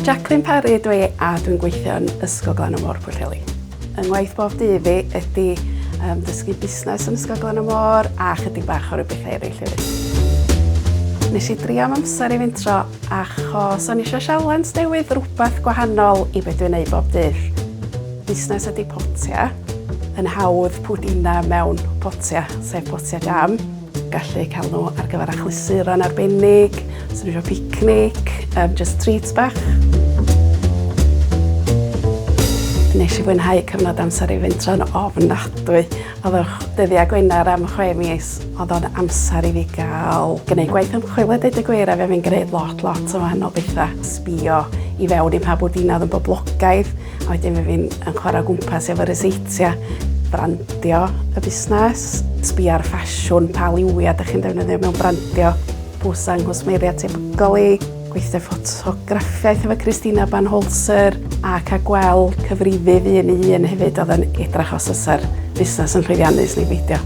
Jacqueline Parry ydw i a dwi'n gweithio yn Ysgol Glan y Môr Pwllheli. Yng ngwaith bob dydd fi ydy um, dysgu busnes yn Ysgol Glan y Môr a chydig bach o rhyw bethau eraill hefyd. Nes i drio am amser i fintro achos o'n eisiau sialens newydd rhywbeth gwahanol i beth dwi'n ei bob dydd. Busnes ydy potia, yn hawdd pwdina mewn potia, sef potia jam. Gallu eu cael nhw ar gyfer achlysuron arbennig, os ydyn nhw eisiau picnic, um, just treats bach. Nes i fwynhau cyfnod amser i fynd tro'n ofnadwy. Oedd yr dyddiau Gwener am chwe mis, oedd o'n amser i fi gael gwneud gwaith ymchwil a dweud y gwir a fe fi'n gwneud lot, lot o wahanol bethau. Sbio i fewn i pa bwdina oedd yn boblogaidd, A wedyn mae fi'n yn chwarae gwmpas efo ryseitiau, brandio y busnes, sbio ar ffasiwn, pa liwiau ydych chi'n defnyddio mewn brandio, pwsa yng nghwsmeriaid tebygol i, gweithio ffotograffiaeth efo Christina Banholzer ac a gweld cyfrifydd un i un hefyd oedd yn edrach os ysa'r busnes yn llwyddiannus neu beidio.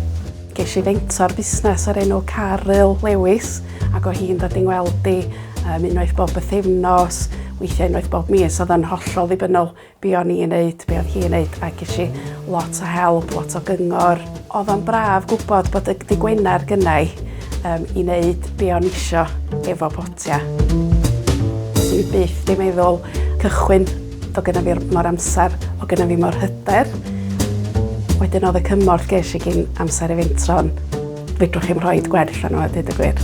Geis i fentor busnes o'r enw Caryl Lewis ac o hi'n dod i'n weld i Um, unwaith bob bythefnos, weithiau unwaith bob mis, oedd yn hollol ddibynnol be o'n i'n neud, be o'n hi'n neud, ac eisiau lot o help, lot o gyngor. Oedd o'n braf gwybod bod y dy Gwener gynnau um, i wneud be o'n isio efo potia. Swn i byth di meddwl cychwyn o gyda fi mor amser, o gyda fi mor hyder. Wedyn oedd y cymorth ges i gyn amser i fentron, fedrwch chi'n rhoi gwerth arno a dweud y gwir.